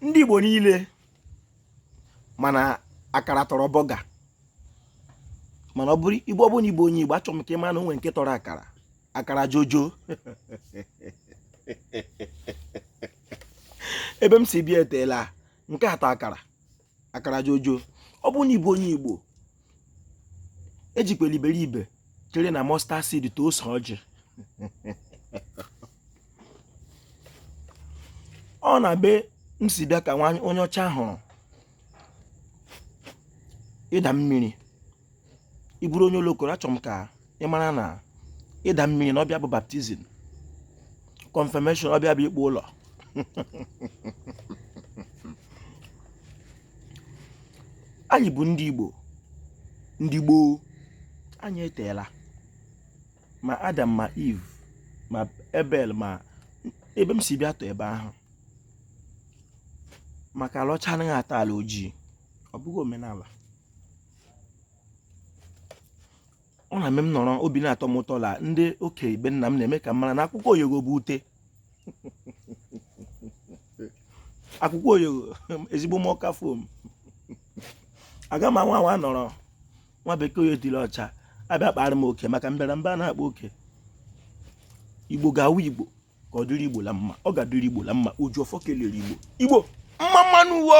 ndị Igbo niile ma na akara tọrọ bọga mana ọ bụrụ Igbo ọ bụrụ na ị bụ onye Igbo achọrọ m ka ị mara na o nwere nke tọrọ akara akara jojo ebe m si bịa eteela nke a tọ akara akara jojo ọ bụrụ na ị bụ onye igbo ejikwela iberibe chere na mustard seed tọ ose ọjị ọ n'ebe m si bịa ka nwa onye ọcha hụrụ ịda mmiri ị bụrụ onye olokoro achọrọ m ka ị mara na ịda mmiri na ọbịa bụ baptizim confirmation ọbịa bụ ikpu ụlọ anyị bụ ndị Igbo ndị gboo anyị eteela ma Adam ma Eve ma Ebel ma ebe m si bịa tọ ebe ahụ maka ala ọcha anaghị atọ ala ojii ọ bụghị omenala ọ na-eme m nọrọ obi na-atọ m ụtọ la ndị okenye be nna m na-eme ka m mara na akwụkwọ oyogo bụ ute akwụkwọ oyogo ezigbo m ọ ka foam aga m anwa anwa nọrọ nwa bekee oyo dịrị ọcha abịa kpaara m oke maka mbịarambịa na-akpa oke igbo ga-awụ igbo ka ọ dịrị igbo la mma ọ ga-adịrị igbo la mma oji ọfọ kelere igbo igbo mma mma nụ wo